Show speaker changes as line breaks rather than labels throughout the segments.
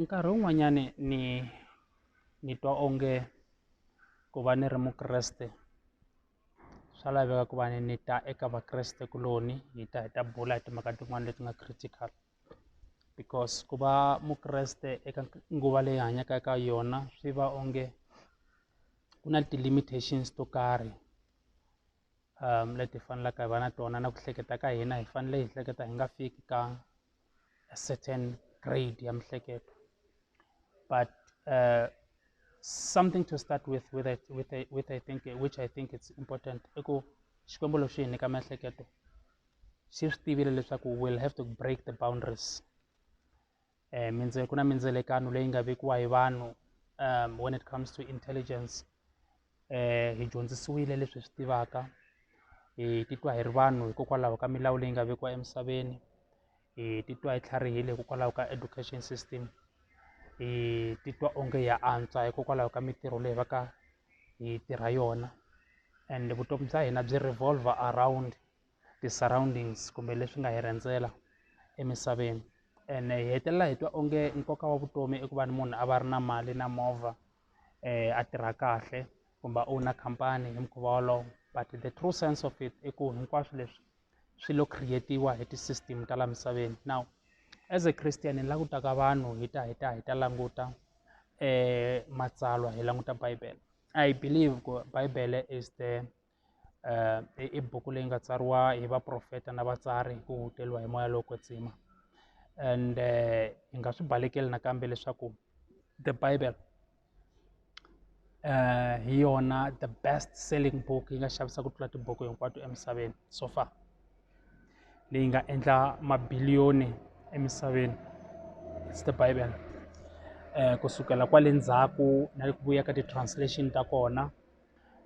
Nkarhi wun'wanyani ni ni twa onge ku va ni ri mukreste swa laveka ku va ni ni ta eka vakreste kuloni hi ta hi ta bula hi timhaka tin'wani leti nga critical because ku va mukreste eka nguva leyi hi hanyaka eka yona swi va onge ku na ti-limitations to karhi leti hi faneleke hi va na tona na ku hleketa ka hina hi fanele hi hleketa hi nga fiki ka a certain grade ya miehleketo but something to start with with a with a with a think which I think it's important i ku Xikwembu lexi hi nyika miehleketo xi swi tivile leswaku we'll have to break the boundaries. mindzele ku na mindzelekano leyi nga vekiwa hi vanhu when it comes to intelligence hi dyondzisiwile leswi hi swi tivaka hi titwa hi ri vanhu hikokwalaho ka milawu leyi nga vekiwa emisaveni hi titwa hi tlharihile hikokwalaho ka education system hi titwa onge ya antswa hikokwalaho ka mintirho leyi va ka hi tirha yona and vutomi bya hina byi revolver around. ti surroundings kumbe leswi nga hi rhendzela emisaveni ene hi hetelela hi twa onge nkoka wa vutomi i ku va ni munhu a va ri na mali na movha a tirha kahle kumbe a owner khampani hi mukhuva wolowo but the true sense of it i ku hinkwaswo leswi swi lo create-iwa hi ti-system ta laha misaveni now as a Christian ni langutaka vanhu hi ta hi ta hi ta languta matsalwa hi languta bibele I believe ku bibele is the. i i buku leyi nga tsariwa hi vaprofeta na vatsari ku teriwa hi moya lowo kwetsima ende hi nga swi balekela nakambe leswaku the bible hi yona the best selling book yi nga xavisa ku tlula tibuku hinkwato emisaveni so far leyi nga endla mabiliyoni emisaveni it's the bible kusukela kwale ndzhaku na le ku vuya ka ti-translation ta kona.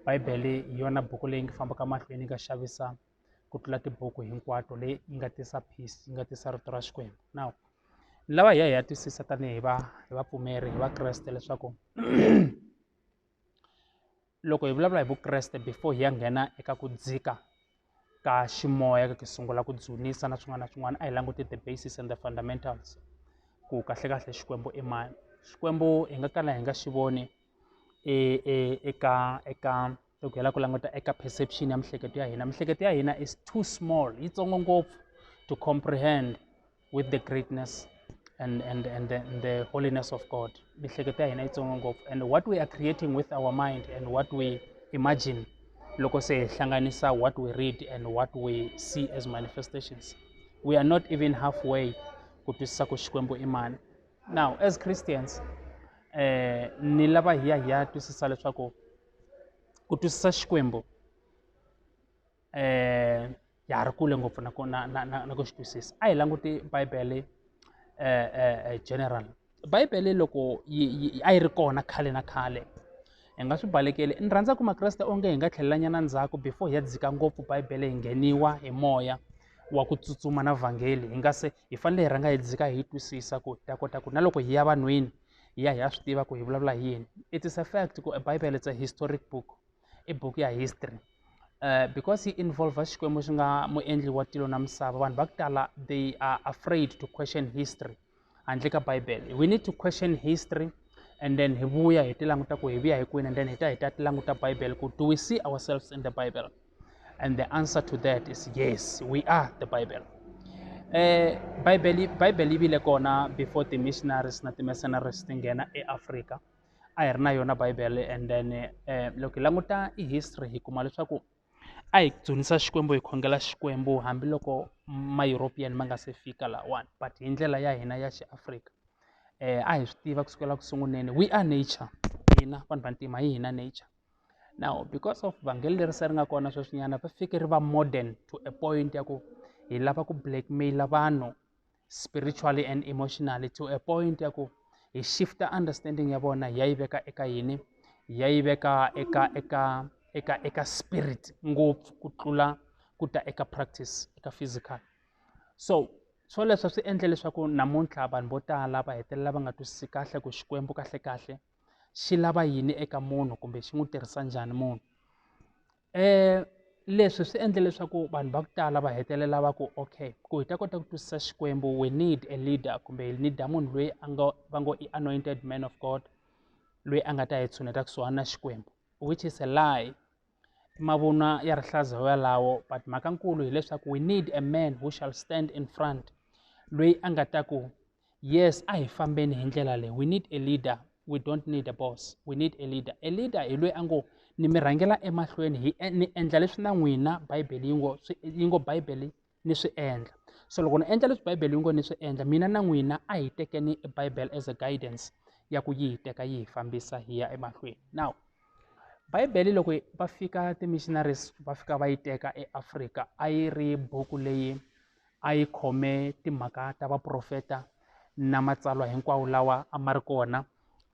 Bibele hi yona buku leyi nga fambaka mahlweni yi nga xavisa ku tlula tibuku hinkwato leyi yi nga tisa peace yi nga tisa rito ra Xikwembu now ni lava hi ya hi ya twisisa tanihi va hi vapfumeri hi vakreste leswaku loko hi vulavula hi vukreste before hi ya nghena eka ku dzika. ka ximoya loko hi sungula ku dzunisa na swin'wana na swin'wana a hi languti the basis and the fundamentals ku kahlekahle Xikwembu i mani Xikwembu hi nga kala hi nga xi voni e, e, eka eka loko hi lava ku languta eka perception ya miehleketo ya hina miehleketo ya hina is too small yitsongo ngopfu to comprehend with the greatness and, and, and, the, and the holiness of God. And what we are creating with our mind and what we imagine, loko se hlanganisa what we read and what we see as manifestations. We are not even halfway kutwisisa ku Xikwembu imani. Now, as Christians, eh, ni lava hiya hiya twisisa leswaku ku twisisa Xikwembu eh ya ha ri kule ngopfu na ku na na na na ku xi twisisa a hi languti bibele general bibele loko yi yi a yi ri kona khale na khale hi nga swi balekeli ni rhandza ku makreste onge hi nga tlhelelanyana ndzhaku before hi ya dzika ngopfu bibele hi ngheniwa hi moya wa ku tsutsuma na vhangeli hi nga se hi fanele hi rhanga hi dzika hi yi twisisa ku hi ta kota ku na loko hi ya vanhwini hi ya hi ya swi tiva ku hi vulavula hi yini it is a fact ku bibele it's a historic book i buku ya history because yi involve xikwembu xi nga muendli wa tilo na misava vanhu va ku tala they are afraid to question history handle ka bible we need to question history and then hi vuya hi ti languta ku hi vuya hi kwini and then hi ta hi ta ti languta bible ku do we see ourselves in the bible and the answer to that is yes we are the bible eh bible bible yi vile kona before the missionaries na ti mercenaries ti nghena eafrika a hi ri na yona bible and then loko hi languta i history hi kuma leswaku a hi dzunisa xikwembu hi khongela xikwembu hambiloko ma european ma nga se fika lawani but hi ndlela ya hina ya xiafrika um a hi swi tiva kusukela ku sunguleni we are nature hina vanhu vantima hi hina nature now because of vhangeli leri se ri nga kona sweswinyana va fike ri va modern to a point ya ku hi lava ku blackmaila vanhu spiritually and emotionally to a point ya ku hi shifta understanding ya vona hi ya yi veka eka yini hi ya yi veka eka eka eka eka spirit ngopfu ku tlula ku ta eka practice eka physical so swoleswo swi endle leswaku namuntlha vanhu vo tala va hetelela va nga twisisi kahle ku xikwembu kahlekahle xi lava yini eka munhu kumbe xi n'wi tirhisa njhani munhu leswi swi endle leswaku vanhu va ku tala va hetelela va ku okay ku hi ta kota ku twisisa xikwembu we need a leader kumbe hi need munhu loyi a nga va ngo i anointed man of god loyi a nga ta hi tshuneta kusuhani na xikwembu which is a lie mavunwa ya rihlaza yalawo but mhaka nkulu hileswaku we need a man who shall stand in front loyi a nga ta ku yes a hi fambeni hi ndlela leyi we need a leader we don't need a boss we need a leader a leader hi loyi a ngo ni mi rhangela emahlweni hi e, ni endla leswi na n'wina bibele yi ngo yi ngo bibele ni swi endla so loko ni endla leswi bibele yi ngo ni swi endla mina na n'wina a hi tekeni bibele as a guidance ya ku yi hi teka yi hi fambisa hi ya emahlweni now bibele loko va fika ti-missionaries va fika va yi teka eafrika a yi ri buku leyi a yi khome timhaka ta vaprofeta na matsalwa hinkwawo lawa a ma ri kona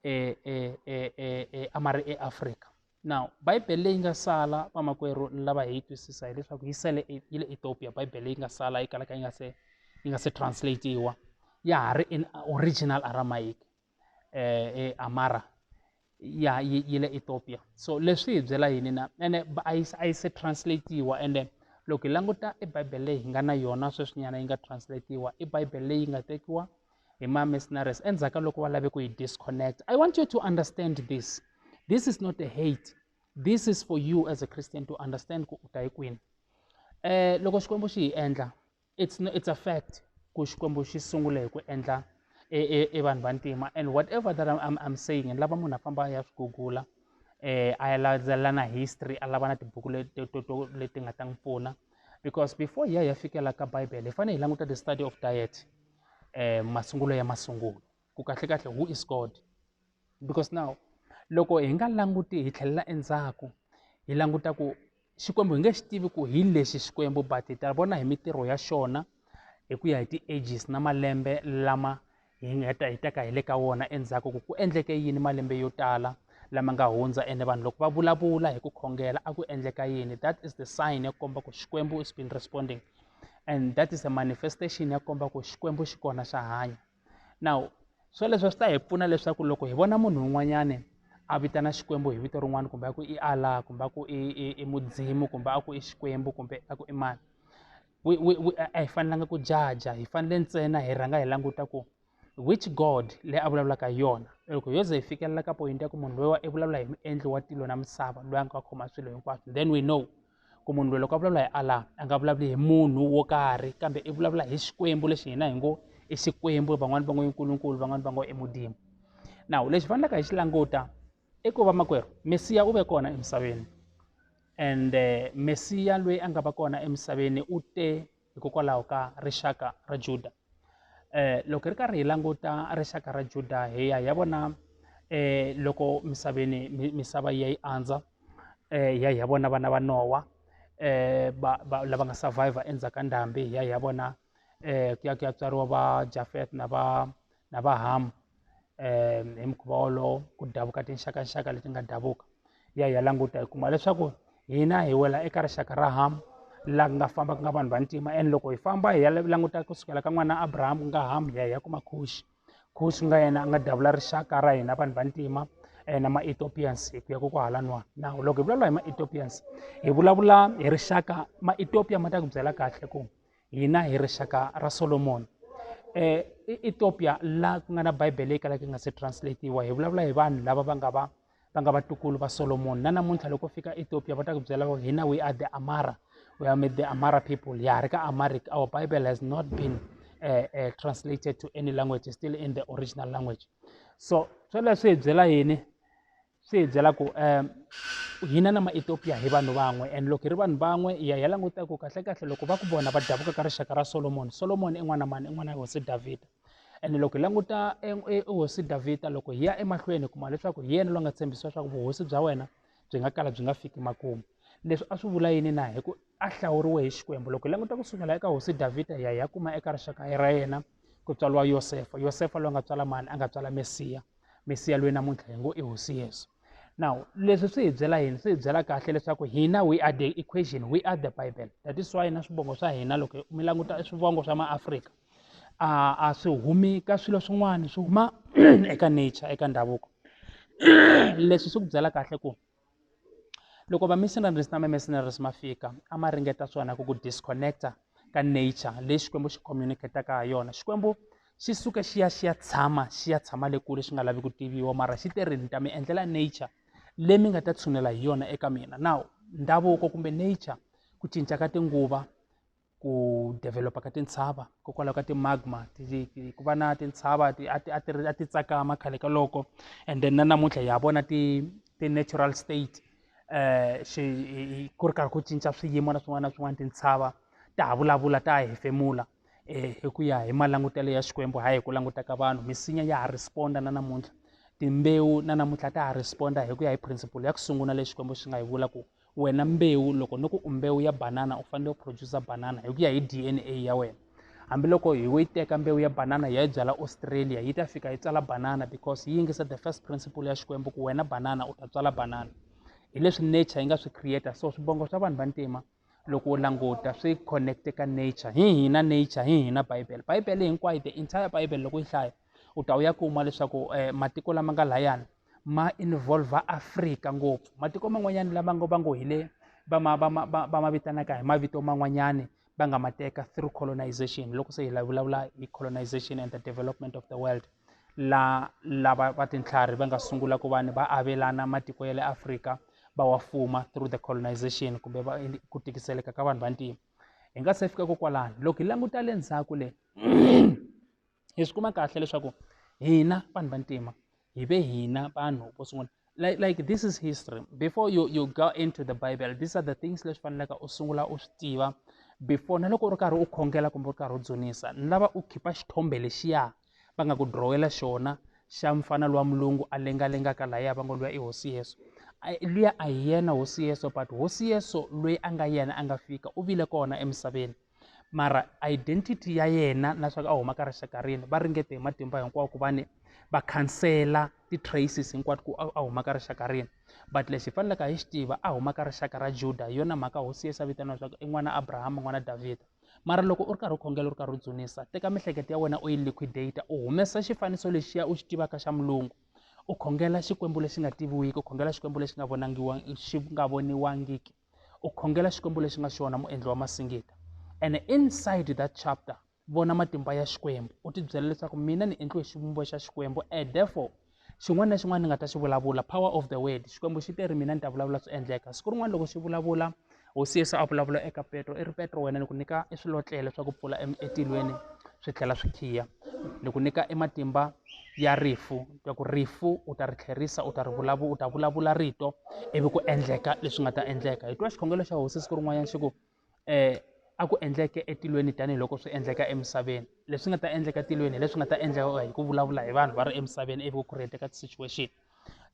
e, e, e, e, e, a ma ri eafrika now bibele leyi nga sala vamakwerhu lava hi yi twisisa hileswaku yi sele e, yi le ethiopia bibele leyi nga sala yi kalaka yi nga se yi nga se translatiwa ya ha ri in original aramaic eh, eamara ya yi, yi le ethiopia so leswi hi byela yini na ene a yi a yi se translatiwa ende loko hi languta i bible leyi hi nga na yona sweswinyana yi nga translatiwa i bible leyi nga tekiwa hi ma-missionaries endzhaku ka loko va lave ku yi disconnect i want you to understand this this is not a hate this is for you as a christian to understand ku u ta hi kwini um loko xikwembu xi hi endla it's no, it's a fact ku xikwembu xi sungule hi ku endla e, e, e vanhu vantima and whatever that I'm, I'm, I'm saying ni lava munhu a famba a ya swi gugula eh a ya landzelela na history a lava na tibuku leti nga ta n'wi pfuna because before hi ya hi ya fikela ka bible hi fanele hi languta the study of diet eh masungulo ya masungulo ku kahlekahle who is god because now loko hi nga languti hi tlhelela endzhaku hi languta ku xikwembu hi nge xi tivi ku hi lexi xikwembu but hi ta vona hi mitirho ya xona hi ku ya hi ti-ages na malembe lama hi nga ta hi teka hi le ka wona endzhaku ku ku endleke yini malembe yo tala lama nga hundza ene vanhu loko va vulavula hi ku khongela a ku endleka yini that is the sign ya ku komba ku xikwembu is been responding and that is a manifestation ya komba ku xikwembu xi kona xa hanya now swoleswo swi ta hi pfuna leswaku loko hi vona munhu un'wanyani a vitana xikwembu hi vito rin'wana kumbe a ku i allah kumbe a ku i i i mudzimu kumbe a ku i xikwembu kumbe a ku i mani we, we, we, a hi fanelanga ku jaja hi fanele ntsena hi rhanga hi languta ku which god leyi a vulavulaka yona loko yo ze hi fikelela ka point ya ku munhu loyi i vulavula hi muendli wa tilo na misava loyi a nga khoma swilo hinkwaswo then we know ku munhu loyi loko a vulavula hi allah a nga vulavuli hi munhu wo karhi kambe i vulavula hi xikwembu lexi hina hi ngo i xikwembu van'wani va ngo i nkulunkulu van'wani va ngo i mudimu nawu lexi fanelaka hi xi languta i ku va makwerhu mesiya u ve kona emisaveni and eh, mesiya loyi a nga va kona emisaveni u te hikokwalaho ka rixaka ra Juda eh loko hi ri karhi hi languta rixaka ra Juda hi ya hi ya vona eh loko misaveni misava yi ya yi andza eh hi ya hi ya vona vana va Nowa eh va va lava nga survivor endzhaku ka ndhambi hi ya hi ya vona eh ku ya ku ya tswariwa va Jafet na va na vahamu um hi mukhuva wolowo ku davuka tinxakanxaka leti nga davuka ya hi ya languta hi kuma leswaku hina hi wela eka rixaka ra hamu la nga famba ku nga vanhu vantima and loko hi famba hi ya languta kusukela ka n'wana abrahamu ku nga hamu hi ya hi ya kuma khuxi khuxi nga yena a nga davula rixaka ra hina vanhu vantima Eh, na ma-ethiopians hi ku ya ko kwahala nwa na loko hi vulavula hi ma-ethiopians hi vulavula hi rixaka ma-ethiopia ma ta ku byela kahle ku hina hi rixaka ra solomoni um ethiopia la ku nga na bibele leyi kalaka yi nga se translatiwa hi vulavula hi vanhu lava va nga va va nga vatukulu va solomoni na namuntlha loko fika ethiopia va ta ku byela va hina we are the amara we are the amara people ya ri ka amaric our bible has not been uh, uh, translated to any language still in the original language so sweleswi hi byela yini swi hi byela ku um hina na maethiopia hi vanhu van'we and loko hi ri vanhu van'we hi ya hi ya languta ku kahlekahle loko va ku vona va davuka ka rixaka ra solomoni solomoni i n'wana mani i n'wana ya hosi davhida ene loko hi languta hosi davhida loko hi ya emahlweni hi kuma leswaku hi yena loyi nga tshembisiwa leswaku vuhosi bya wena byi nga kala byi nga fiki makumu leswi a swi vula yini na hi ku a hlawuriwe hi xikwembu loko hi languta ku sukela eka hosi davhida hi ya hi ya kuma eka rixaka ra yena ku tswariwa yosefa yosefa loyi a nga tswala mani a nga tswala mesiya misiya loyi namuntlha hi ngo i hosi yesu now leswi swi hi byela yini swi hi byela kahle leswaku hina we are the equation we are the bible that is why na swivongo swa hina loko mi languta swivongo swa maafrika a a swi humi ka swilo swin'wana swi huma eka nature eka ndhavuko leswi swi ku byela kahle ku Loko va missionaries na ma mercenaries ma fika a ma ringeta swona ku ku disconnecta ka nature leyi Xikwembu xi communicate-aka ha yona Xikwembu xi suke xi ya xi ya tshama xi ya tshama le kule xi nga lavi ku tiviwa mara xi te ri ni ta mi endlela nature leyi mi nga ta tshunela hi yona eka mina now ndhavuko kumbe nature ku cinca ka tinguva ku develop-a ka tintshava hikokwalaho ka ti-magma ku va na tintshava ti a ti a ti a ti tsakama khale ka loko and then na namuntlha hi ya vona ti ti-natural state um xi ku ri karhi ku cinca swiyimo na swin'wana na swin'wana tintshava ta ha vulavula ta ha hefemula um hi ku ya hi malangutelo ya xikwembu hayi hi ku languta ka vanhu misinya ya ha respond-a na namuntlha timbewu na namuntlha ta ha respond-a hi ku ya hi principle ya ku sungula leyi xikwembu xi nga yi vula ku wena mbewu loko ni ku u mbewu ya banana u fanele u producer banana hi ku ya hi dna ya wena hambiloko hi wo yi teka mbewu ya banana hi ya yi byala australia yi ta fika yi tsala banana because yi yingisa the first principle ya xikwembu ku wena banana u ta tswala banana hi leswi nature yi nga swi creator so swibongo swa vanhu vantima loko u languta swi connecte ka nature hi hina nature hi hina bibele bibele hinkwayo the entire bibele loko yi hlaya u ta u ya kuma leswaku eh, matiko lama nga layani ma involva afrika ngopfu matiko man'wanyana lama ngo va ngo hi le va ma va ma va va ma vitanaka hi mavito man'wanyani va nga ma teka through colonization loko se hi la vulavula hi colonization and the development of the world la lava va tintlhari va nga sungula ku vanhu va avelana matiko ya le afrika va wa fuma through the colonization kumbe va ku tikiseleka ka vanhu vantima hi nga se fika kokwalani loko hi languta le ndzhaku le hi swi kuma kahle leswaku hina vanhu vantima hi ve hina vanhu vo sungula like like this is history before you you go into the bible these are the things leswi faneleke u sungula u swi tiva before na loko u ri karhi u khongela kumbe u ri karhi u dzunisa ni lava u khipa xithombe lexiya va nga ku drowela xona xa mfana luwa mulungu a lengalengaka lahaya va ngo luya i hosi yeso luya a hi yena hosi yeso but hosi yeso loyi a nga yena a nga fika u vile kona emisaveni mara identity ya yena na swa ku a huma ka rixaka rini va ringete hi matimba hinkwawo ku va ni va khansela ti-traces hinkwato ku a huma ka rixaka rini but lexi hi faneleke hi xi tiva a huma ka rixaka ra juda hi yona mhaka hosi yesu a vitaniwa leswaku i n'wana abrahama n'wana davhida mara loko u ri karhi u khongela u ri karhi u dzunisa teka miehleketo ya wena u yi liquidate u humesa xifaniso lexiya u xi tivaka xa mulungu u khongela xikwembu lexi nga tiviwiki u khongela xikwembu lexi nga vonangiwa xi nga voniwangiki u khongela xikwembu lexi nga xona muendli wa masingita and inside that chapter vona matimba ya xikwembu u tibyela leswaku mina ni endliwe xivumbo xa xikwembu and therefore xin'wana na xin'wana ni nga ta xi vulavula power of the word xikwembu xi te ri mina ni ta vulavula swi endleka siku rin'wana loko xi vulavula hosi yesu a vulavula eka petro i ri petro wena ni ku nyika i swilotlele swa ku pfula etilweni swi tlhela swi khiya ni ku nyika ematimba ya rifu ya ku rifu u ta ri tlherisa u ta ri vulavula u ta vulavula rito ivi ku endleka leswi nga ta endleka hi twa xikhongelo xa hosi siku rin'wanyana xi ku um a ku endleke etilweni tanihiloko swi endleka emisaveni leswi nga ta endleka tilweni hi leswi nga ta endleka hi ku vulavula hi vanhu va ri emisaveni ivi ku create-eka ti-situation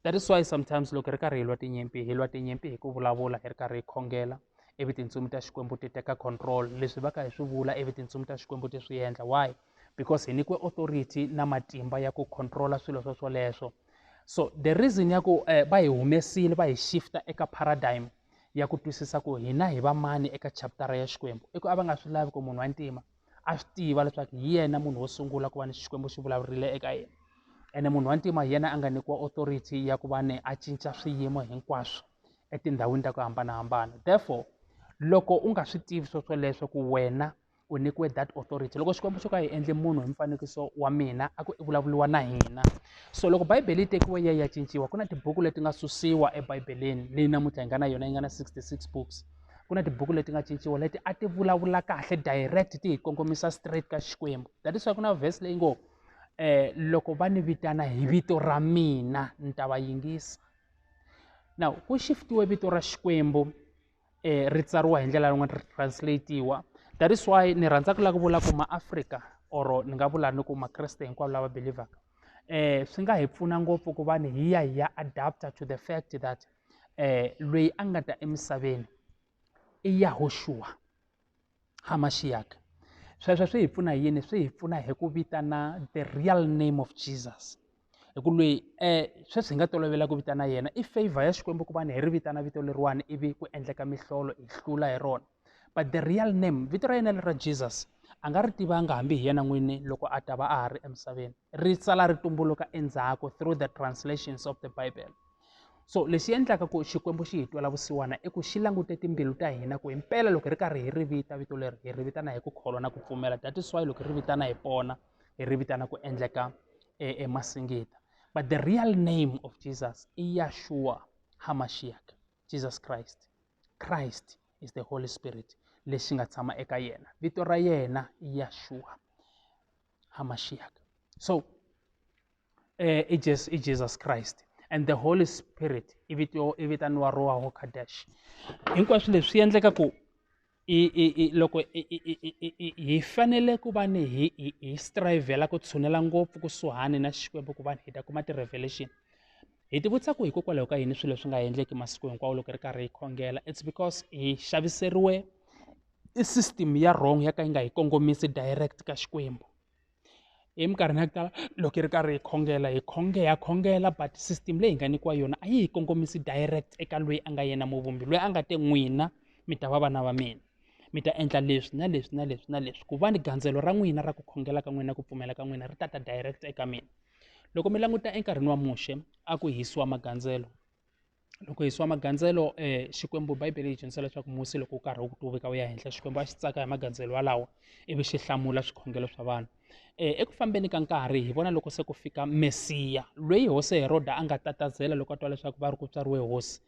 that is why sometimes loko hi ri karhi hi lwa tinyimpi hi lwa tinyimpi hi ku vulavula hi ri karhi hi khongela ivi tintsumi ta xikwembu ti teka control leswi va ka hi swi vula ivi tintsumi ta xikwembu ti swi endla why because hi nyikiwe authority na matimba ya ku controla swilo swo swoleswo so the reason ya ku eh, va hi humesile va hi shifta eka paradigm ya ku twisisa ku hina hi vamani eka chaptara ya xikwembu i ku a va nga swi lavi ku munhu wa ntima a swi tiva leswaku hi yena munhu wo sungula ku va ni xikwembu xi vulavurile eka yena ene munhu wa ntima hi yena a nga nyikiwa authority ya ku va ni a cinca swiyimo hinkwaswo etindhawini ta ku hambanahambana therefore loko u nga swi tivi swo swoleswo ku wena u nyikiwe that authority loko xikwembu xo ka hi endle munhu hi mfanekiso wa mina a ku i vulavuriwa na hina so loko bayibele yi tekiwe ya ya cinciwa ku na tibuku leti nga susiwa ebibeleni leyi namuntlha hi nga na yona yi nga na 66 books ku na tibuku leti nga cinciwa leti a ti vulavula kahle direct ti hi kongomisa straight ka xikwembu that is why ku na verse leyi ngo eh loko va ni vitana hi vito ra mina ni ta va yingisa now ku shiftiwe vito ra xikwembu eh ri tsariwa hi ndlela yin'wana ri translatiwa that is why ni rhandza ku lava ku vula ku maafrika or ni nga vula ni ku makreste hinkwavo lava belivhaka eh swi nga hi pfuna ngopfu ku va ni hi ya hi ya adapter to the fact that loyi a nga ta emisaveni i Yahuxuwa ha Maxiyaka sweswo swi hi pfuna hi yini swi hi pfuna hi ku vitana the real name of Jesus hi ku lweyi sweswi hi nga tolovela ku vitana yena i favor ya Xikwembu ku va ni hi ri vitana vito leriwani ivi ku endleka mihlolo hi hlula hi rona. but the real name vito ra yena leri ra jesus a nga ri tivanga hambi hi yena n'wini loko a ta va a ha ri emisaveni ri sala ri tumbuluka endzhaku through the translations of the bible so lexi endlaka ku xikwembu xi hi twela vusiwana i ku xi langute timbilu ta hina ku himpela loko hi ri karhi hi ri vita vito leri hi ri vitana hi ku kholwa na ku pfumela that is why loko hi ri vitana hi pona hi ri vitana ku endleka emasingita e but the real name of jesus i yashua hamashiach jesus christ christ is the holy spirit lexi nga tshama eka yena vito ra yena i yashua hamashiak so eh, i jesus i jesus christ and the holy spirit i vitaniwa roho kadesh hinkwaswo leswi swi endleka ku i i i loko i i i i i i hi fanele ku va ni hi hi hi strivhela ku tshunela ngopfu kusuhani na Xikwembu ku va hi ta kuma ti-revelation hi ti vutisa ku hikokwalaho ka yini swilo leswi nga endleki masiku hinkwawo loko hi ri karhi hi khongela it's because hi xaviseriwe i system ya wrong ya ka yi nga hi kongomisi direct ka Xikwembu. eminkarhini ya ku tala loko hi ri karhi hi khongela hi khongela ha khongela but system leyi hi nga nyikiwa yona a yi hi kongomisi direct eka loyi a nga yena muvumbi loyi a nga te n'wina mi ta va vana va mina mi ta endla leswi na leswi na leswi na leswi ku va ni gandzelo ra n'wina ra ku khongela ka n'wina ku pfumela ka n'wina ri ta ta direct eka mina loko mi languta enkarhini wa muxe a ku hisiwa magandzelo loko hi yisiwa magandzelo Xikwembu Bibele yi dyondzisa leswaku Musa loko wu karhi wu tumbeka wu ya henhla Xikwembu a xi tsaka hi magandzelo walawo ivi xi hlamula swikhongelo swa vanhu eku fambeni ka nkarhi hi vona loko se ku fika Mesiya loyi hosi Heroda a nga tatazela loko a twa leswaku va ri ku tswariwe hosi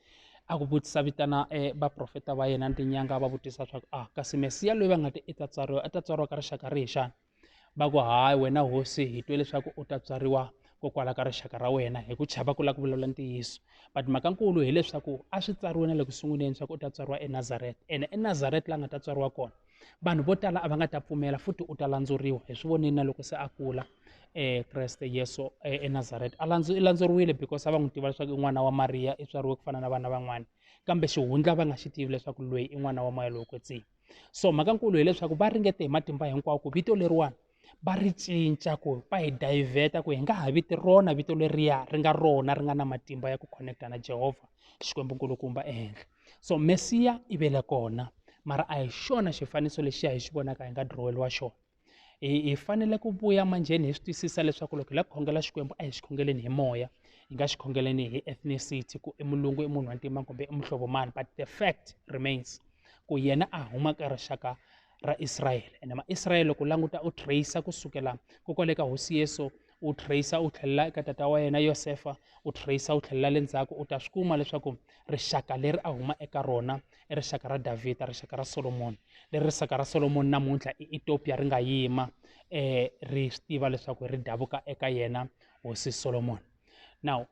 a ku vutisa vitana vaprofeta va yena ni tinyanga va vutisa swa ku a ah, kasi Mesiya loyi va nga ti i ta tswariwa a ta tswariwa ka rixaka rihi xana va ku hayi wena hosi hi twe leswaku u ta tswariwa kokwala ka rixaka ra wena hi ku chava ku lava ku vulavula ntiyiso but mhaka nkulu hileswaku a swi tsariwe na le ku sunguleni swa ku u ta tswariwa enazareta ene enazareta la nga ta tswariwa kona vanhu vo tala a va nga ta pfumela futhi u ta landzuriwa hi swi voneni na loko se a kula um kreste yesu eh, enazareta a i landzuriwile because a va n'wi tiva leswaku i n'wana wa mariya i tswariwe ku fana na vana van'wana kambe xihundla va nga xi tivi leswaku loyi i n'wana wa moya lowo kwetsima so mhaka nkulu hileswaku va ringete hi matimba hinkwawo ku vito leriwani va ri cinca ku va hi dayivheta ku hi nga ha viti rona vito leriya ri nga rona ri nga na matimba ya ku connecta na jehovha xikwembu nkulukumba ehenhla so mesiya i vele kona mara a hi xona xifaniso lexi ya hi xi vonaka hi nga diroweriwa xona hi hi fanele ku vuya manjheni hi swi twisisa leswaku loko hi lava ku khongela xikwembu a hi xi khongeleni hi moya hi nga xi khongeleni hi ethnicity ku i mulungu i munhu wa ntima kumbe i muhlovo mani but the fact remains ku yena a huma ka rixaka ra israyele ene maisrayele loko u languta u trace kusukela kokwale ka hosi yesu u tracer u tlhelela eka tata wa yena yosefa u tracer u tlhelela le ndzhaku u ta swi kuma leswaku rixaka leri a huma eka rona i rixaka ra davhida rixaka ra solomoni leri rixaka ra solomoni namuntlha i etopia ri nga yima um ri swi tiva leswaku ri davuka eka yena hosi solomoni now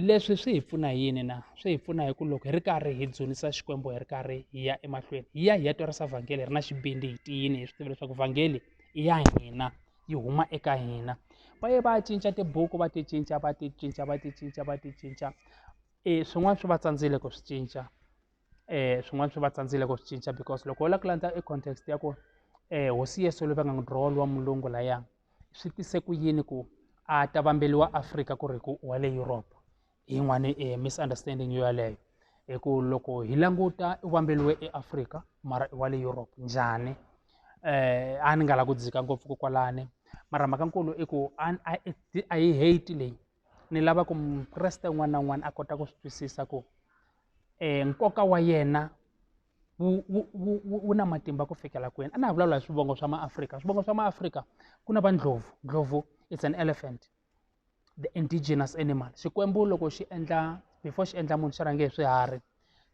leswi swi hi pfuna hi yini na swi hi pfuna hi ku loko hi ri karhi hi dzunisa xikwembu hi ri karhi hi ya emahlweni hi ya hi ya twarisa vhangeli hi ri na xibindi hi tiyini hi swi tiva leswaku vhangeli i ya hina yi huma eka hina va ye va cinca tibuku va ti cinca va ti cinca va ti cinca va ti cinca e swin'wana swi va tsandzile ku swi cinca eh swin'wana swi va tsandzile ku swi cinca because loko u lava ku landza i context ya ku eh hosi Yesu loyi va nga n'wi draw wa mulungu laya swi tise ku yini ku a ta vambeliwa Afrika ku ri ku wa le Europe hi yin'wani eh, misunderstanding yo yaleyo hi ku loko hi languta u vambeliwe eAfrika mara i wa le Europe njhani eh a ni nga la ku dzika ngopfu ko kwalani mara mhaka nkulu i ku a yi hate leyi ni lava ku mukreste un'wana na un'wana a kota ku swi twisisa ku um nkoka wa yena wu na matimba ku fikela kwini a na ha vulavula hi swivongo swa maafrika swivongo swa maafrika ku na va ndlhovu ndlhovu it's an elephant the indigenous animal xikwembu loko xi endla before xi endla munhu xi rhange hi swiharhi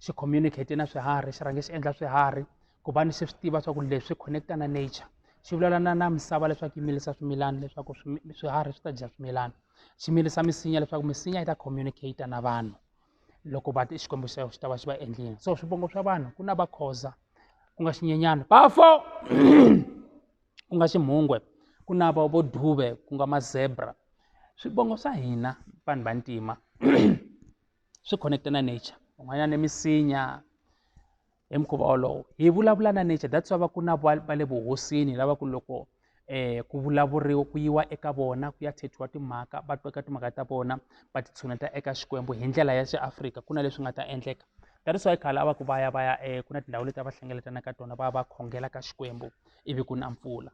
xi communicate na swiharhi xi rhange xi endla swiharhi ku va ni se swi tiva swa ku leswi swi connecta na nature xi vulavula na na misava leswaku yi milisa swimilana leswaku swiharhi swi ta dya swimilana xi milisa misinya leswaku misinya yi ta communicate na vanhu loko va xikwembu xa xi ta va xi va endlile so swivongo swa vanhu ku na vakhoza ku nga xinyenyana bafo ku nga ximhungwe ku na va vo dube ku nga mazebra swivongo swa hina vanhu vantima swi connecte na nature van'wanyana ni misinya hi mukhuva wolowo hi vulavula na nature that's why va ku na va le vuhosini lava ku loko eh ku vulavuriwa ku yiwa eka vona ku ya thethiwa timhaka va twa eka timhaka ta vona va titshuneta eka xikwembu hi ndlela ya xiafrika ku na leswi nga ta endleka that is why khale a va ku va ya va ya eh ku na tindhawu leti a va hlengeletana ka tona va ya va khongela ka xikwembu ivi ku na mpfula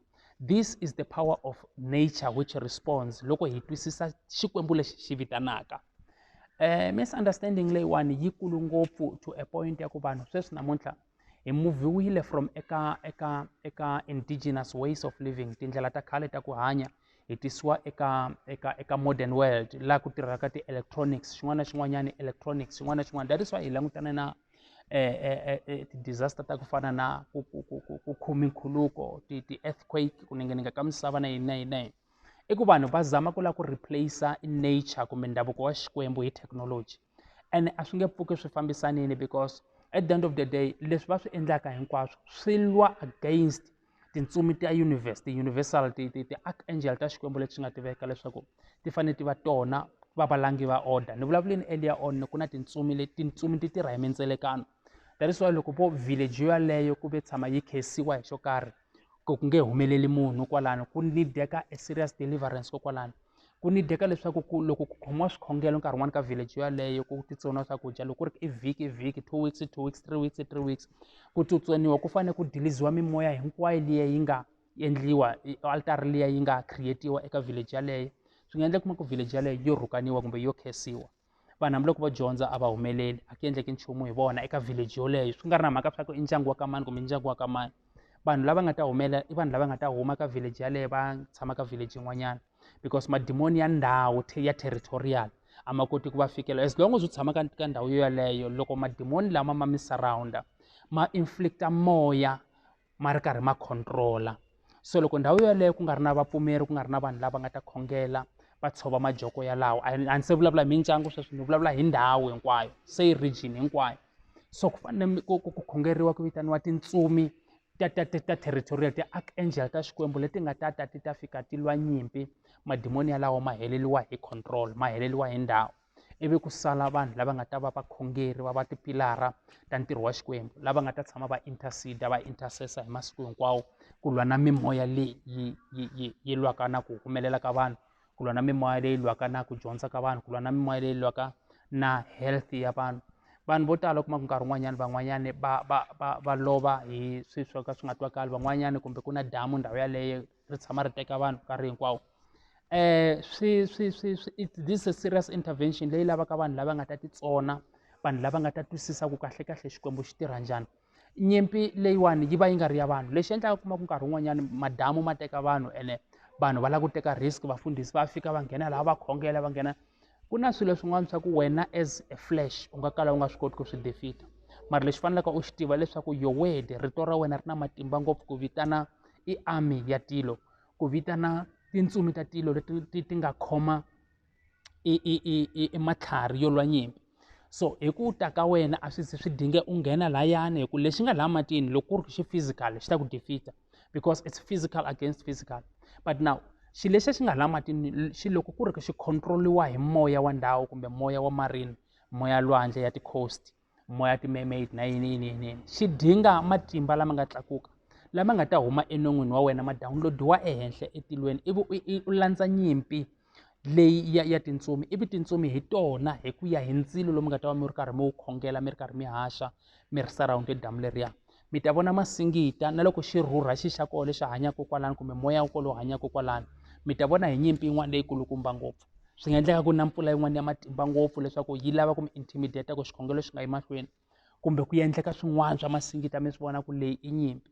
this is the power of nature which responds loko hi twisisa xikwembu lexi xi vitanaka um misunderstanding leyiwani yi kulu ngopfu to a point ya ku vanhu sweswi namuntlha hi muviwile from eka eka eka indigenous ways of living tindlela ta khale ta ku hanya hi tisiwa eka eka eka modern world laha ku tirhaka ti-electronics xin'wana na xin'wanyana electronics xin'wana na xin'wana that is why hi langutana na ti-disaster ta ku fana na ku ku ku ku ku khumi nkhuluko ti ti-earthquake ku ninginika ka misava na yini na yini na yini i ku vanhu va zama ku lava ku replace-a nature kumbe ndhavuko wa xikwembu hi thekinoloji ene a swi nge pfuki swi fambisanile because at the end of the day leswi va swi endlaka hinkwaswo swi lwa against tintsumi ta universe ti-universal ti ti ti-archangel ta xikwembu leti swi nga tiveka leswaku ti fanele ti va tona va valangi va order ni vulavuleni earlier on ku na tintsumi leti tintsumi ti tirha hi mindzelekano that is why loko vo village yo yaleyo ku ve tshama yi khesiwa hi xo karhi ku ku nge humeleli munhu kwalano ku nideka a serious deliverance kokwalano ku ni dyeka leswaku ku loko ku khomiwa swikhongelo nkarhi wun'wani ka village yaleyo ku titsoniwa swakudya loko ku ri i vhiki i vhiki two weeks two weeks three weeks three weeks ku tsutsoniwa ku fanele ku dilizhiwa mimoya hinkwayo liya yi nga endliwa altara liya yi nga create-iwa eka village yaleyo swi nga endla kuma ku village yaleyo yo rhukaniwa kumbe yo khensiwa vanhu hambiloko vo dyondza a va humeleli a ku endleki nchumu hi vona eka village yoleyo swi nga ri na mhaka swa ku i ndyangu wa ka mani kumbe ndyangu wa ka mani vanhu lava nga ta humela i vanhu lava nga ta huma ka village yaleyo va tshama ka village yin'wanyana because madimoni ya ndhawu ya territorial a ma koti ku va fikela as long as u tshama ka ka ndhawu yoyaleyo loko madimoni lama ma mi surrounda ma inflicta moya ma ri karhi ma control-a so loko ndhawu yeleyo ku nga ri na vapfumeri ku nga ri na vanhu lava nga ta khongela va tshova majoko yalawo a ni se vulavula hi mindyangu sweswi ni vulavula hi ndhawu hinkwayo se yi region hinkwayo so ku fanele ku ku ku khongeriwa ku vitaniwa tintsumi ta ta ta ta territorial ti-archangel ta xikwembu leti nga ta ta ti ta fika ti lwa nyimpi madimoni yalawo ma heleriwa hi control ma heleriwa hi ndhawu. ivi ku sala vanhu lava nga ta va vakhongeri va va tipilara ta ntirho wa xikwembu lava nga ta tshama va intercede va intercessor hi masiku hinkwawo ku lwa na mimoya leyi yi yi yi yi lwaka na ku humelela ka vanhu ku lwa na mimoya leyi lwaka na ku dyondza ka vanhu ku lwa na mimoya leyi lwaka na health ya vanhu vanhu vo tala kuma ku nkarhi wun'wanyana van'wanyana va va va va lova hi swilo swo ka swi nga twakali van'wanyana kumbe ku na damu ndhawu yaleyo ri tshama ri teka vanhu nkarhi hinkwawo um swi swi swi swi it this a serious intervention leyi lavaka vanhu lava nga ta titsona vanhu lava nga ta twisisa ku kahle kahle xikwembu xi tirha njhani nyimpi leyiwani yi va yi nga ri ya vanhu lexi endlaka kuma ku nkarhi wun'wanyana madamu ma teka vanhu ene vanhu va lava ku teka risk vafundhisi va fika va nghena laha va khongela va nghena ku na swilo swin'wana swa ku wena as a flesh u nga kala u nga swi koti ku swi defeat-a mara lexi faneleke u xi tiva leswaku your word rito ra wena ri na matimba ngopfu ku vitana i army ya tilo ku vitana tintsumi ta tilo leti ti ti nga khoma i i i i matlhari yo lwa nyimpi so hi ku ta ka wena a swi swi dinge u nghena layani hi ku lexi nga laha matini loko ku ri xi physical xi ta ku defeater because it's physical against physical but now xi lexi xi nga laha matini xi loko ku ri xi control-iwa hi moya wa ndhawu kumbe moya wa marine moya lwandle ya ti-coast moya ti-mermaid na yini yini yini yini xi dinga matimba lama nga tlakuka lama nga ta huma enon'wini wa wena ma download-iwa ehenhla etilweni ivi u landza nyimpi leyi ya ya tintsumi ivi tintsumi hi tona hi ku ya hi ndzilo lowu mi nga ta va mi ri karhi mi wu khongela mi ri karhi mi haxa mi ri surround damu leriya mi ta vona masingita na loko xi rhurha xi xa koho lexi hanyaka kwalano kumbe moya wa kolowo hanyaka kwalano mi ta vona hi nyimpi yin'wana leyikulukumba ngopfu swi nga endleka ku na mpfula yin'wana ya matimba ngopfu leswaku yi lava ku mi intimidate ku xikhongelo xi nga yi mahlweni kumbe ku endleka swin'wana swa masingita mi swi vona ku leyi i nyimpi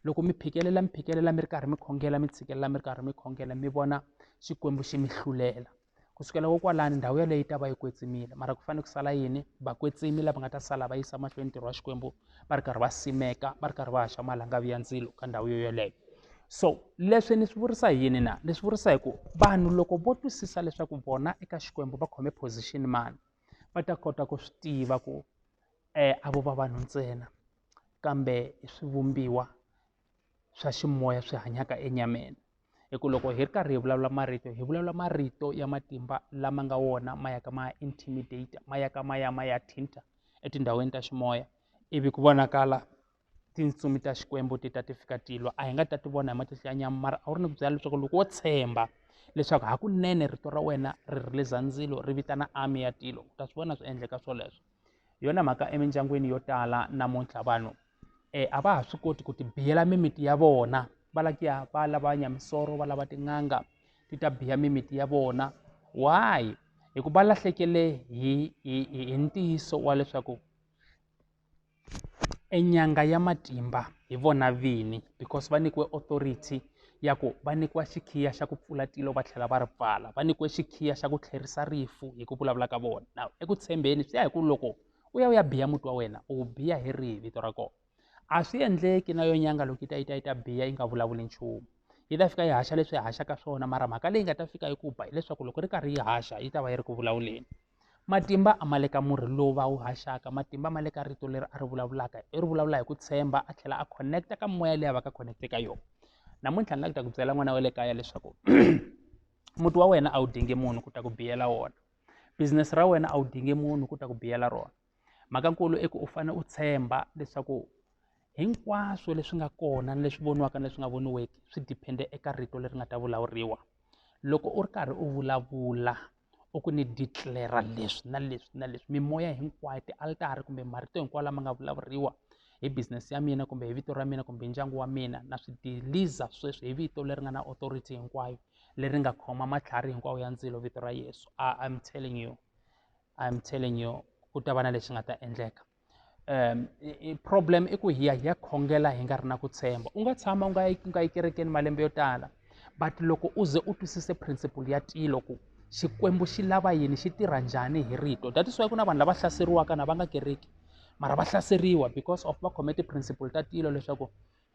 loko mi phikelela mi phikelela mi ri karhi mi khongela mi tshikelela mi ri karhi mi khongela mi vona xikwembu xi mi hlulela ku sukela kokwalani ndhawu yaleyo yi ta va yi kwetsimile mara ku fanele ku sala yini vakwetsimi lava nga ta sala va yisa mahlweni ntirho wa xikwembu va ri karhi va simeka va ri karhi va haxa malangavi ya ndzilo ka ndhawu yo yoleyo so leswi ni swi vurisa hi yini na ni swi vurisa hi ku vanhu loko vo twisisa leswaku vona eka xikwembu va khome position mani va ta kota ku swi tiva ku a vo va vanhu ntsena kambe i swivumbiwa swa ximoya swi hanyaka enyameni hi ku loko hi ri karhi hi vulavula marito hi vulavula marito ya matimba lama nga wona ma yaka ma intimidate ma yaka ma ya ma ya thinta etindhawini ta ximoya ivi ku vonakala tintsumi ta xikwembu ti ta ti fika ti lwa a hi nga ta ti vona hi matihlo ya nyama mara a wu ri ni ku byela leswaku loko wo tshemba leswaku hakunene rito ra wena ri ri le zandzilo ri vitana army ya tilo u ta swi vona swi endleka swoleswo hi yona mhaka emindyangwini yo tala namuntlha vanhu um a va ha swi koti ku ti biyela mimiti ya vona va lava ku ya va lava nyamisoro va lava tin'anga ti ta biya mimiti ya vona why hikuva va lahlekele hi hi hi ntiyiso wa leswaku e nyanga ya matimba hi vona vini because va nyikiwe authority ya ku va nyikiwa xikhiya xa ku pfula tilo va tlhela va ri pfala va nyikiwe xikhiya xa ku tlherisa rifu hi ku vulavula ka vona na eku tshembeni swi ya hi ku loko u ya u ya biya muti wa wena u biya hi rihi vito ra kona a swi endleki na yo nyanga loko yi ta yi ta yi ta biya yi nga vulavuli nchumu yi ta fika yi haxa leswi yi haxaka swona mara mhaka leyi nga ta fika yi ku ba hileswaku loko ri karhi yi haxa yi ta va yi ri ku vulavuleni. Matimba a ma le ka murhi lowu va wu haxaka matimba ma le ka rito leri a ri vulavulaka i ri vulavula hi ku tshemba a tlhela a connect-a ka moya leyi a va ka connect-e ka yona namuntlha ni la ku ta ku byela n'wana wa le kaya leswaku muti wa wena a wu dingi munhu ku ta ku biyela wona business ra wena a wu dingi munhu ku ta ku biyela rona mhakankulu i ku u fanele u tshemba leswaku hinkwaswo leswi nga kona ni leswi voniwaka ni leswi nga voniweki swi diphende eka rito leri nga ta vulavuriwa loko u ri karhi u vulavula u ku ni declare leswi na leswi na leswi mimoya hinkwayo tialitara kumbe marito hinkwawo lama nga vulavuriwa hi business ya mina kumbe hi vito ra mina kumbe hi ndyangu wa mina na swi deliza sweswi hi vito leri nga na authority hinkwayo leri nga khoma matlhari hinkwawo ya ndzilo vito ra yesu I, i'm telling you I'm telling you ku ta va na lexi nga ta endleka um problem i ku hiya hiya khongela hi nga ri na ku tshemba u nga tshama u nga yi u nga yi kerekeni malembe yo tala but loko u ze u twisise principle ya tilo ku xikwembu xi lava yini xi tirha njhani hi rito that is why ku na vanhu lava hlaseriwaka na va nga kereki mara va hlaseriwa because of va khome ti-principle ta tilo leswaku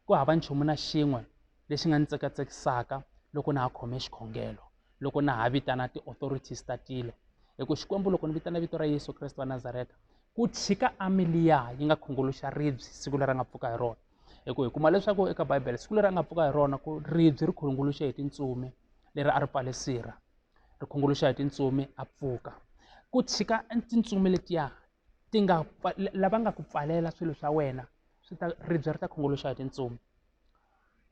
ku hava nchumu na xin'we lexi nga ni tsekatsekisaka loko na ha khome xikhongelo loko na ha vitana ti-authorities ta tilo hi ku xikwembu loko ni vitana vito ra yesu kreste wa nazareta ku tshika amiliya yi nga khunguluxa ribye siku leri a nga pfuka hi rona hi ku hi kuma leswaku eka bibele siku leri a nga pfuka hi rona ku ribye ri khunguluxe hi tintsumi leri a ri pfale sirha ri khunguluxa hi tintsumi a pfuka ku tshika tintsumi letiya ti nga lava nga ku pfalela swilo swa wena swi ta ribya ri ta khunguluxa hi tintsumi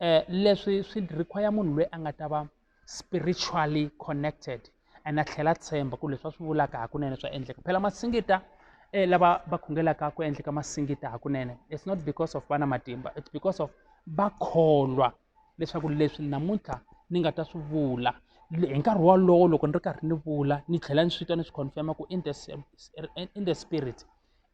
um leswi swi require munhu loyi a nga ta va spiritually connected and a tlhela tshemba ku leswi va swi vulaka hakunene swa endleka phela masingita um lava va khongelaka ku endleka masingita hakunene it's not because of vana matimba it's because of va kholwa leswaku leswi namuntlha ni nga ta swi vula hi nkarhi wolowo loko ni ri karhi ni vula ni tlhela ni swi twa ni swi confirma ku in the, in the spirit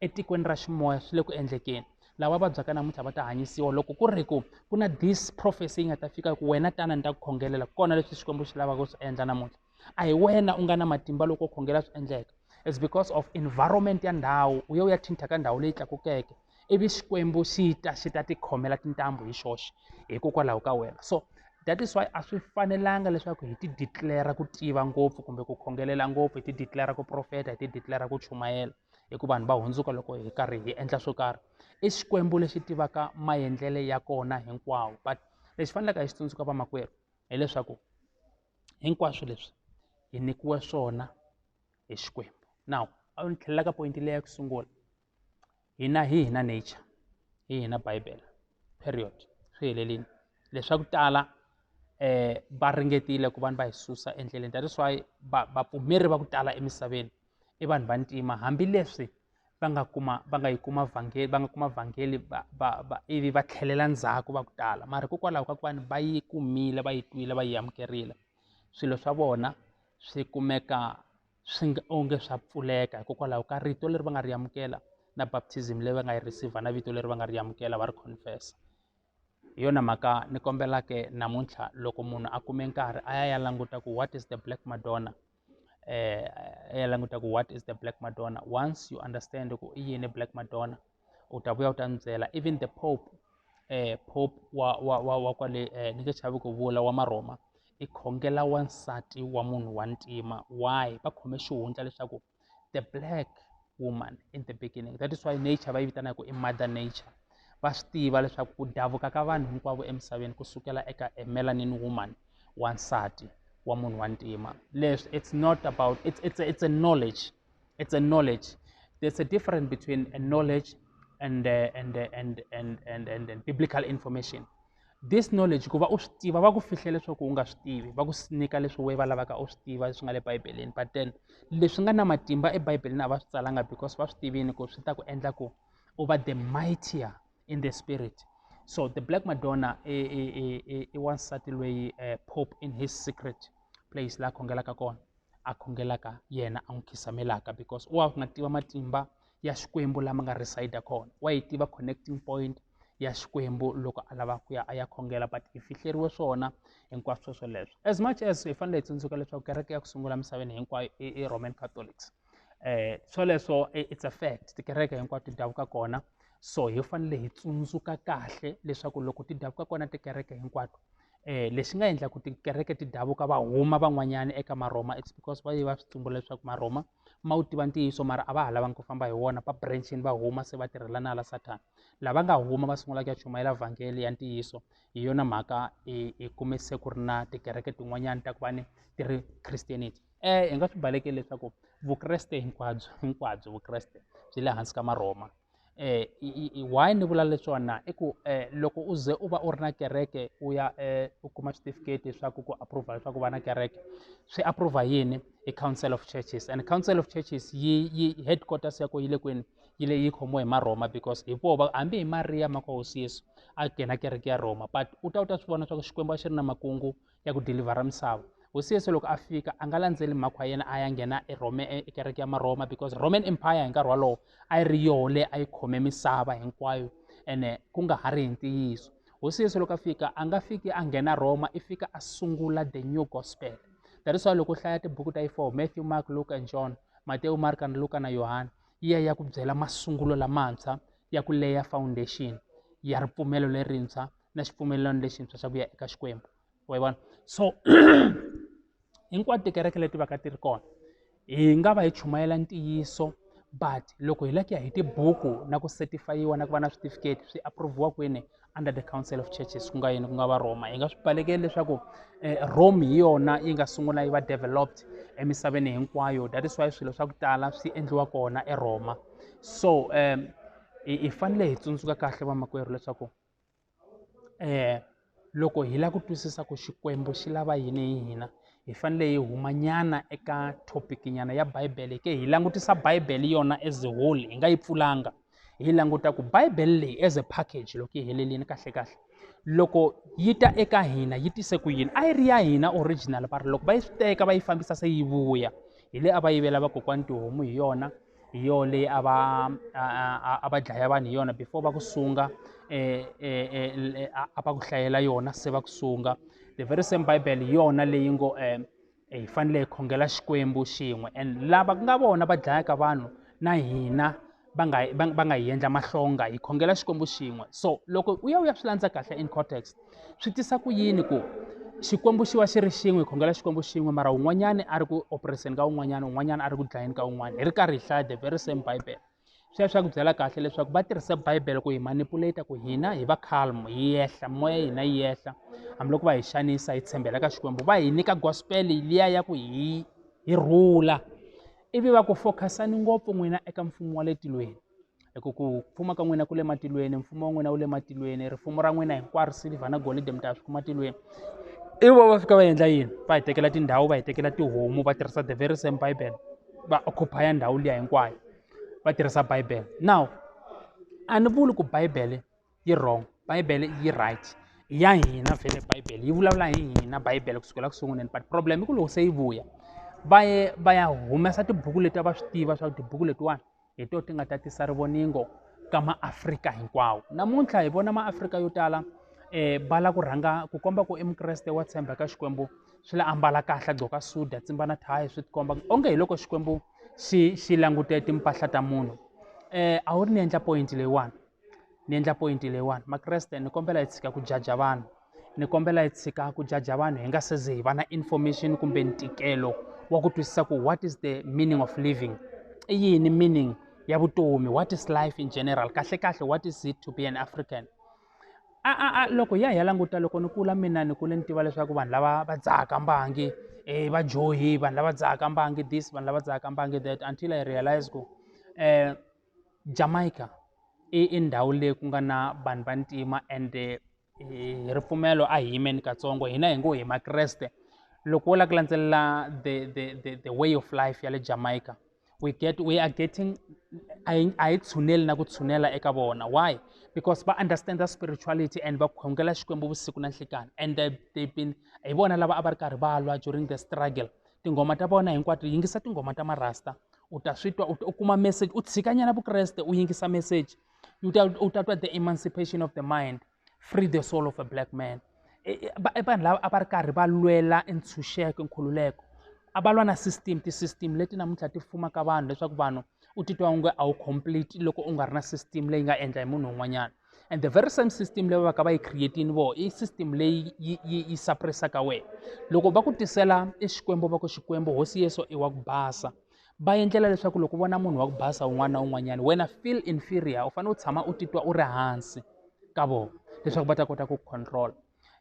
etikweni ra ximoya swi le ku endlekeni lava vabyaka namuntlha va ta hanyisiwa loko ku ri ku ku na this prophecy yi nga ta fika ku wena tana ni ta ku khongelela kona leswi xikwembu xi lavaka swi endla namuntlha a hi wena u nga na matimba loko u khongela swi endleka it's because of environment ya ndhawu u ye u ya thinta ka ndhawu leyi tlakukeke ivi xikwembu xi ta xi ta tikhomela tintambu hi xoxe hikokwalaho ka wena so that is why a swi fanelanga leswaku hi ti declara ku tiva ngopfu kumbe ku khongelela ngopfu hi ti declara ku profeta hi ti declara ku chumayela hi ku vanhu va hundzuka loko hi karhi hi endla swo karhi i xikwembu lexi tivaka maendlele ya kona hinkwawo but lexi faneleke hi xi tsundzuka vamakwerhu hileswaku hinkwaswo leswi hi nyikiwe swona hi xikwembu now a ni tlhelela ka poyinti leya ku sungula hina hi hina nature hi hina bibele period swi helelini leswaku tala eh va ringetile ku vanhu va hi susa endleleni that is why vapfumeri va ku tala emisaveni i vanhu va ntima hambileswi va nga kuma va nga yi kuma vhangeli va nga kuma vhangeli va va va ivi va tlhelela ndzhaku va ku tala mara hikokwalaho ka ku va ni va yi kumile va yi twile va yi amukerile swilo swa vona swi kumeka swi nga onge swa pfuleka hikokwalaho ka rito leri va nga ri amukela na baptism leyi va nga yi receiver na vito leri va nga ri amukela va ri confessa hi yona mhaka ni kombelaka namuntlha loko munhu a kume nkarhi a ya ya languta ku what is the black madonna eh, a ya languta ku what is the black madonna once you understand ku i yini black madonna u ta vuya u ta ni byela even the pope eh, pope wa, wa, wa, wa kwale eh, ni nge chavi ku vula wa maroma i khongela wansati wa munhu wa ntima why va khome xihundla leswaku the black woman in the beginning that is why nature va yi vitana ku i mother nature va swi tiva leswaku ku davuka ka vanhu hinkwavo emisaveni ku sukela eka a melanin woman wansati wa munhu wa ntima leswi it's not about it's, it's, a, it's a knowledge it's a knowledge there's a difference between a knowledge and, uh, and, uh, and, and, and, and, and biblical information this knowledge ku va u swi tiva va ku fihle leswaku u nga swi tivi va ku nyika leswi we va lavaka u swi tiva leswi nga le bibeleni but then leswi nga na matimba ebibeleni a va swi tsalanga because va swi tivini ku swi ta ku endla ku u va the mightier in the spirit so the black madonna i, i, i, i wansati loyi uh, pope in his secret place la khongelaka kona a khongelaka yena a n'wi khisamelaka because u wa nga tiva matimba ya xikwembu lama nga reside kona wa yi tiva connecting point ya xikwembu loko a lava ku ya a ya khongela but hi fihleriwe swona hinkwaswo swoleswo as much as hi fanele hi tsundzuka leswaku kereke ya ku sungula misaveni hinkwayo i roman catholics um swoleswo it's a fact tikereke hinkwato ti davuka kona so hi fanele hi tsundzuka kahle leswaku loko ti davuka kona tikereke hinkwato eh, lexi nga endla ku tikereke ti davuka va huma van'wanyana eka marhoma it's because va ye va swi tumbula leswaku marhoma ma wu tiva ntiyiso mara a va ha lavangi ku famba hi wona va branchini va huma se va tirhela na la sathana lava nga huma va sungula ku ya chumayela vhangeli ya ntiyiso hi yona mhaka hi kume se ku ri na tikereke tin'wanyana ta ku va ni ti ri christianity um hi nga swi balekeli leswaku vukreste hinkwabyo hinkwabyo vukreste byi le hansi ka marhoma why ni vula leswiwa na i ku loko u ze u va u ri na kereke u ya u kuma switifiketi leswaku ku approve leswaku va na kereke swi approve yini i council of churches and council of churches yi yi headquarters ya ko yi le kwini yi le yi khomiwe hi marhoma because hi voho va hambi hi mariya maka hosi yesu a nghena kereke ya rhoma but u ta u ta swi vona swa ku xikwembu a xi ri na makungu ya ku dilivhara misava hosi yesu loko a fika a nga landzeli mhakho ya yena a ya nghena erome ekereke ya marhoma because roman empire hi nkarhi wolowo a yi ri yoho leyi a yi khome misava hinkwayo ene ku nga ha ri hi ntiyiso hosi yesu loko a fika a nga fiki a nghena roma i fika a sungula the new gospel that is why loko u hlaya tibuku ta yi four matthew mark luke and john matewu marka na luka na yohana yi ya ya ku byela masungulo lamantshwa ya ku leya foundation ya ripfumelo lerintshwa na xipfumelelano lexintshwa xa ku ya eka xikwembu wa vona so hinkwato tikereke leti va ka ti ri kona hi nga va hi chumayela ntiyiso but loko hi lava ku ya hi tibuku na ku setifayiwa na ku va na switifiketi swi approviwa kwini under the council of churches ku nga yini ku nga va roma hi nga swi balekeli leswaku eh, rome hi yona yi nga sungula yi va developed emisaveni hinkwayo that is why swilo swa ku tala swi endliwa kona eroma so um hi hi fanele hi tsundzuka kahle vamakwerhu leswaku loko hi lava ku twisisa ku Xikwembu xi lava yini hi hina hi fanele hi humanyana eka topic nyana ya Bibele ke hi langutisa Bibele yona as a whole hi nga yi pfulanga hi languta ku Bibele leyi as a package loko yi helerile kahle kahle loko yi ta eka hina yi tise ku yini a yi ri ya hina original va ri loko va yi swi teka va yi fambisa se yi vuya hi le a va yivela vakokwana tihomu hi yona. hi yoho leyi a va a va dlaya vanhu hi yona before va ku sunga eh, eh, eh, a va ku hlayela yona se va ku sunga the very same bible hi yona leyi ngo um hi fanele hi khongela xikwembu xin'we and lava ku nga vona va dlayaka vanhu na hina va nga va nga hi endla mahlonga hi khongela xikwembu xin'we so loko u ya u ya swi landza kahle in context swi tisa ku yini ku xikwembu xi va xi ri xin'we khongela xikwembu xin'we mara un'wanyana a ri ku operation ka un'wanyana un'wanyana a ri ku dlayeni ka un'wana hi ri karhi hi hlaya the very same bible sweswi swa ku byela kahle leswaku va tirhisa bible ku hi manipulata ku hina hi va calm hi yehla moya ya hina yi yehla hambiloko va hi xanisa hi tshembela ka xikwembu va hi nyika gospel liya ya ku hi hi rhula ivi va ku focusani ngopfu n'wina eka mfumo wa le tilweni hi ku ku fuma ka n'wina ku le matilweni mfumo wa n'wina wu le matilweni rifumo ra n'wina hinkwaro silver na golidi mi ta swi kuma tilweni i vo va fika va endla yini va hi tekela tindhawu va hi tekela tihomu va tirhisa the very same bible va occupy ndhawu liya hinkwayo va tirhisa bible now a ni vuli ku bible yi wrong bibele yi right i ya hina vhele bibele yi vulavula hi hina bibele kusukela ku sunguleni but problem i ku loko se yi vuya va ye va ya humesa tibuku leti a va swi tiva swa ku tibuku letiwani hi to ti nga ta tisa rivoningo ka maafrika hinkwawo namuntlha hi vona maafrika yo tala eh va la ku rhanga ku komba ku i mukreste wa tshemba ka xikwembu swi la ambala kahle a gqoka suda tsimba na thayi swi tikomba onge hi loko xikwembu xi xi langute timpahla ta munhu eh a wu ri ni endla point leyiwani ni endla point leyiwani makreste ni kombela hi tshika ku jaja vanhu ni kombela hi tshika ku jaja vanhu hi nga se ze hi va na information kumbe ntikelo wa ku twisisa ku what is the meaning of living i yini meaning ya vutomi what is life in general kahle kahle what is it to be an african a a a loko ya hi ya languta loko ni kula mina ni kule ni tiva leswaku vanhu lava va dzahaka mbangi eh va johi vanhu lava dzahaka mbangi this vanhu lava dzahaka mbangi that until i realize ku eh Jamaica i i ndhawu leyi ku nga na vanhu va ntima ende hi ripfumelo a hi yimeni katsongo hina hi ngo hi makreste loko wo lava ku landzelela the the the the way of life ya le Jamaica we get we are getting a hi a hi tshuneli na ku tshunela eka vona why because va understand spirituality and va khongela Xikwembu vusiku na nhlekani and they been hi vona lava a va ri karhi va lwa during the struggle tinghoma ta vona hinkwato yingisa tinghoma ta marasta u ta swi twa u kuma message u tshikanyana vukreste u yingisa message u ta u ta twa the emancipation of the mind free the soul of a black man e, e, e, vanhu lava a va ri karhi va lwela ntshunxeko nkhululeko a va lwa na system ti-system leti namuntlha ti fumaka vanhu leswaku vanhu u titwa onge a wu complete loko u nga ri na system leyi nga endla hi munhu un'wanyana and the very same system leyi va ka va yi creatini vo i system leyi yi yi yi suppressaka wena loko va ku tisela i xikwembu va ku xikwembu hosi yeso i wa ku basa va endlela leswaku loko vona munhu wa ku basa un'wana na un'wanyana wena feel inferior u fanele u tshama u titwa u ri hansi ka vona leswaku va ta kota ku control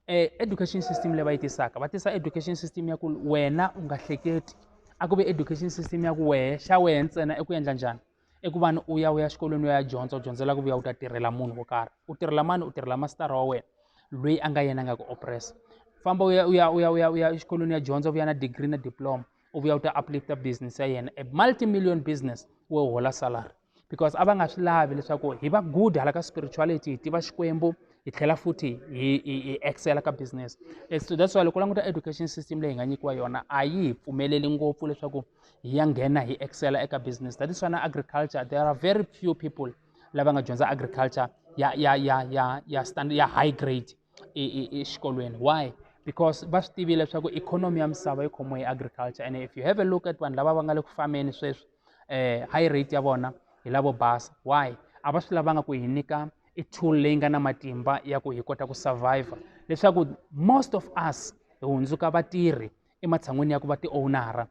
eh, education system leyi va yi tisaka va tisa education system ya ku wena u nga hleketi a ku ve education system ya ku wehe xa wehe ntsena i ku endla njhani i ku va ni u ya u ya xikolweni u ya dyondza u dyondzela ku vuya u ta tirhela munhu wo karhi u tirhela mani u tirhela masitara wa wena loyi a nga yena nga ku oppressa famba u ya u ya u ya u ya u ya exikolweni ya dyondza u vuya na degree na diploma u vuya u ta uplifta business ya yena a multimillion business wo hola salary because a va nga swi lavi leswaku hi va good hala ka spirituality hi tiva xikwembu hi tlhela futhi hi hi hi excela ka business so that's why loko u languta education system leyi hi nga nyikiwa yona a yi hi pfumeleli ngopfu leswaku hi ya nghena hi excela eka business that is why na agriculture there are very few people lava nga dyondza agriculture ya ya ya ya ya stand ya high grade exikolweni why because va swi tivile leswaku ikhonomi ya misava yi khomiwe hi agriculture and if you have a look at vanhu lava va nga le ku fambeni sweswi um high rate ya vona hi lavo basa why a va swi lavanga ku hi nyika i tool leyi nga na matimba ya ku hi kota ku survivor leswaku most of us hi hundzuka vatirhi ematshan'wini ya ku va ti-owner-a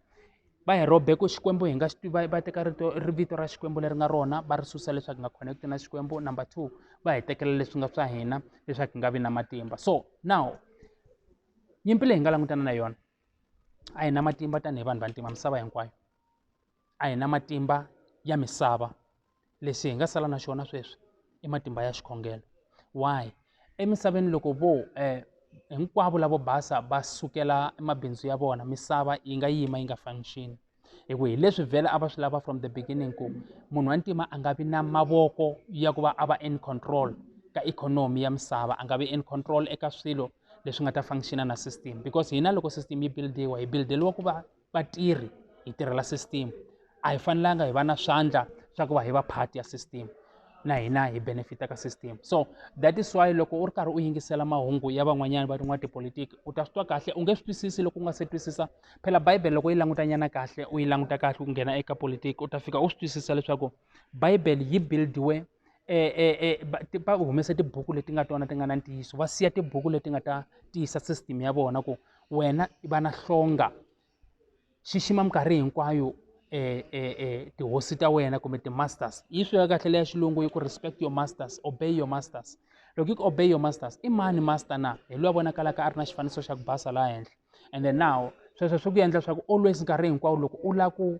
va hi rhobe ku xikwembu hi nga xi va va teka rito ri vito ra xikwembu leri nga rona va ri susa leswaku hi nga connect na xikwembu number two va hi tekela leswi nga swa hina leswaku hi nga vi na matimba so now nyimpi leyi hi nga langutana na yona a hi na matimba tanihi vanhu vantima misava hinkwayo a hi na matimba ya misava lexi hi nga sala na xona sweswi i matimba ya xikhongelo why emisaveni loko vo eh, hinkwavo lavo basa va sukela mabindzu ya vona misava yi nga yima yi nga function hi ku hi leswi vhele a va swi lava from the beginning ku munhu wa ntima a nga vi na mavoko ya ku va a va in control ka ikhonomi ya misava a nga vi in control eka swilo leswi nga ta functiona na system because hina loko system yi buildiwa hi buildeliwa ku va vatirhi hi tirhela system a hi fanelanga hi va na swandla swa ku va hi va part ya system na hina hi benefita ka system so that is why loko u ri karhi u yingisela mahungu ya van'wanyana va tin'wana tipolitiki u ta swi twa kahle u nge swi twisisi loko u nga se twisisa phela bibele loko yi langutanyana kahle u yi languta kahle u nghena eka politiki u ta fika u swi twisisa leswaku bibele yi buildiwe eh, eh, eh, va, va humese tibuku leti nga tona ti nga na ntiyiso va siya tibuku leti nga ta tiyisa system ya vona ku wena i va na hlonga xixima minkarhi hinkwayo eh, eh, eh, tihosi ta wena kumbe ti-masters yi swi ya kahle leya xilungu yi ku respect your masters obey your masters loko yi ku obey your masters i mani master na hi loyi a vonakalaka a ri na xifaniso xa ku basa laha henhla and then now sweswo swi ku endla leswaku always nkarhi hinkwawo loko u lava ku